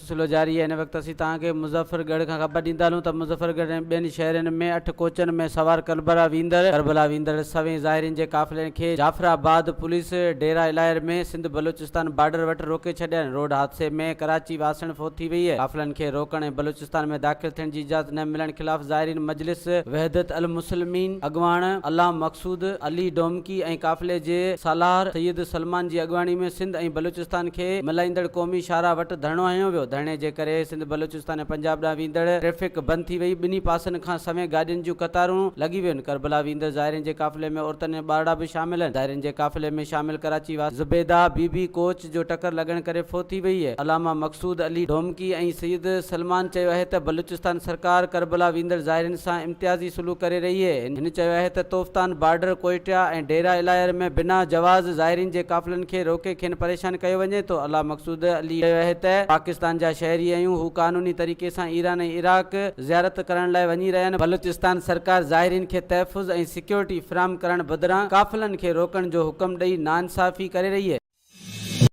سلسلو جاري آهي ان وقت اسين توهان کي مظفر ڳڙهه کان خبر ڏيندا هلون ته مظفر ڳڙهه ۽ ٻين شهرين ۾ اٺ ڪوچن ۾ سوار ڪربلا ويندڙ ڪربلا ويندڙ سوين ظاهرين جي قافلي کي جعفر آباد پوليس ڊيرا الاير ۾ سنڌ بلوچستان بارڊر وٽ روڪي ڇڏين روڊ حادثي ۾ ڪراچي واسڻ فوت ٿي وئي قافلن کي روڪڻ ۽ بلوچستان ۾ داخل ٿيڻ جي اجازت نه ملڻ خلاف ظاهرين مجلس وحدت المسلمين اڳواڻ علام مقصود علي ڊومڪي ۽ قافلي جي سالار سيد سلمان جي اڳواڻي ۾ سنڌ ۽ بلوچستان بلوچستان کي ملائيندڙ قومي شاهراهه وٽ ڌرڻو هنيو ويو، ڌرڻي جي ڪري سنڌ بلوچستان ۽ پنجاب ڏانهن ويندڙ ٽريفڪ بند ٿي وئي، ٻنهي پاسن کان سوين گاڏين جون قطارون لڳي ويون، ڪربلا ويندڙ زائرين جي قافلي ۾ عورتن ۽ ٻارڙا به شامل آهن، زائرين جي قافلي ۾ شامل ڪراچي واسي زبيده بي بي ڪوچ جو ٽڪر لڳڻ ڪري فوت ٿي وئي، علامه مقصود علي ڊومڪي ۽ سيد سلمان چيو اهي ته بلوچستان سرڪار ڪربلا ويندڙ زائرين سان امتيازي سلوڪ ڪري رهي اهي، هن. هن چيو اهي ته توفتان بارڊر ڪوئيٽا ۽ ڊيرا الاير ۾ بنا جواز زائرين جي قافلن کي روڪي کين پريشان ڪيو وڃي ٿو الله مقصود علي چيو اهي ته پاڪستان جا شهري اهيون هو قانوني طريقي سان ايران ۽ عراق زيارت ڪرڻ لاء وڃي رهيا آهن بلوچستان سرڪار زائرين کي تحفظ ۽ سيڪيورٽي فراهم ڪرڻ بدران قافلن کي روڪڻ جو حڪم ڏئي ناانصافي ڪري رهي